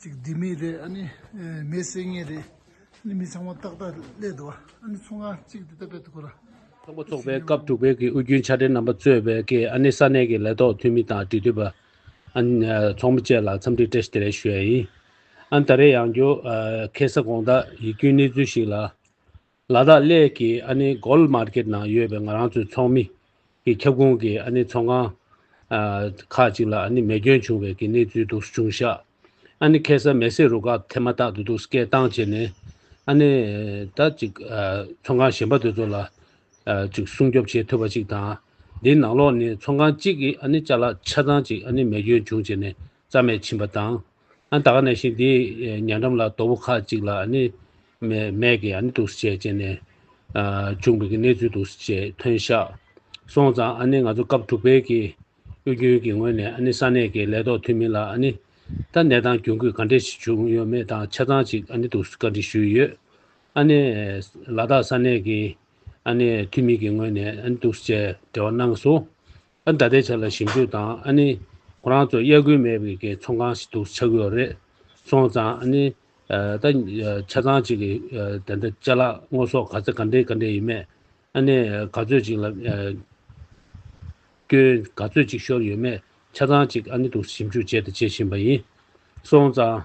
ཅིག་སྡིག་མེད་རེད་ཨ་ནི་མེ་བསད་ངེས་རེད་ཨ་ནི་མི་ཚང་མ་ཏག་ཏག་སླེབས་འདུག་ཨ་ནི་ཚོགས་ཁང་གཅིག་འདི་ལྟ་བུའི་ཐོག་ལ། ཚོགས་པ་འཚོགས་པའི་སྐབས་དྲུག་པའི་གི་དབུས་རྒྱུན་ཆ་འཕྲིན་རྣམ་པ་གཙོས་པའི་གི་ཨ་ནི་ས་གནས་ཀྱི་ལས་ཐོག་འཐུས་མི་དང་འབྲེལ་མཐུད་པ། ཨ་ཚོགས་མི་བཅས་ལ་འཚམས་འདྲི་བཀྲ་ཤིས་བདེ་ལེགས་ཞུ་ཡ་ཡིན། ཨ་ནི་ད་རེས་ཡང་རྒྱུ་ཁེ་ས་གོང་དག་ཡིག་སྐྱོན་གནས་ཚུལ་ཞིག་ལ། ལ་དྭགས་གླས་ཀྱི་ཨ་ནེ Gold Market ནང་ཡོད་པའི་ང་རང་ཚོའི་ཚོགས་མི། གི་ཁྱབ་ཁོངས་ཀྱི་ཨ་ནེ་ཚོང་ཁང། ཁག་ཅིག་ལ་ཨ་ནེ་མེ་སྐྱོན་བྱུང་བའི་གི་གནས་ཚུལ་འདུག་ཟུར་ཆུང་ཤག་ཨ་ནེ་ཁེ་སར་མེ་སེར་རུ་ཁག་ཐེ་མ་ཐག་ཏུ་འདུག་སྐད་གཏང་བྱས་ནས་ཨ་ནེ་ད་ཅིག་ཚོང་ཁང་གཞན་པ་དེ་ཚོ་ལ་ཅིག་སྲུང་སྐྱོབ་བྱེད་ཐུབ་པ་ཅིག་དང། དེའི་ནང་ལོགས་ནས་ཚོང་ཁང་གཅིག་གི་ཨ་ནེ་ལྕགས་ལ་ཆ་ཚང་ཅིག་ཨ་ནེ་མེ་སྐྱོན་བྱུང་བྱས་ནས་རྩ་མེད་ཕྱིན་པ་དང། ཨ་ད་ག་ནས་ཤིག་འདི་ཉལ་འགྲམ་ལ་རྡོ་བུ་ཁ་ཅིག་ལ་ནི། མས་ཀྱིས་ནི་འདུག་ཟེར་བྱས་ནས། བྱུང་བའི་གནས་ཚུལ་འདུག་ཟེར་བྱས་ཐོན་བཞག་སོང་ཙང་ནི་ང་ཚོ་སྐབས་དྲུག་པའི་གི་གཡོ་རྒྱུན་གྱི་ངོས་ནས་ནི་ས་གནས་ཀྱི་ལས་ཐོག་འཐུས་མི་ལ་ནི། ད་ནས་དང་གྱོང་གུད་ག་འདྲས་ཤིག་བྱུང་ཡོད་མེད་དང་ཆ་ཚང་ཅིག་ནི་འདུག་བཀའ་འདྲི་ཞུས་ཡོད། ནི། ལ་དྭགས་ས་གནས་ཀྱི་ནི་འཐུས་མི་གྱི་ངོས་ནས་ནི་འདུག་ཟེར་བྱས་འབྲེལ་བ་གནང་སོང། ཨ་ད་ལྟའི་ཆ་ལ་ཞིབ་འཇུག་དང་ཨ་ནི། ཁོ་རང་ཚོ་དབྱར་དགུན་མེད་པའི་གི་ཚོང་ཁང་ཞིག་འདུག་ཆགས་ཀྱི་ཡོད་རེད། སོང་ཙང་ཨ་ནི། ད། ཆ་ཚང་ཅིག་གི་དེ་འདྲ་བཅའ་ལག་དངོས་ཟོག་ག་ཚེ་ག་འདྲའི་ག་འདྲའི་ཡིན་མེད། ཨ་ནི། ག་ཚོད་ཅིག་ལ། སྐྱོན་ག་ཚོད་ཅིག་ཤོར་ཡོད་མེད་ཆ་ཚང་ཅིག་ཨ་ནི་འདུག་ཞིབ་འཇུག་བྱས་དང་བྱེད་བཞིན་པ་ཡིན། སོང་ཙང།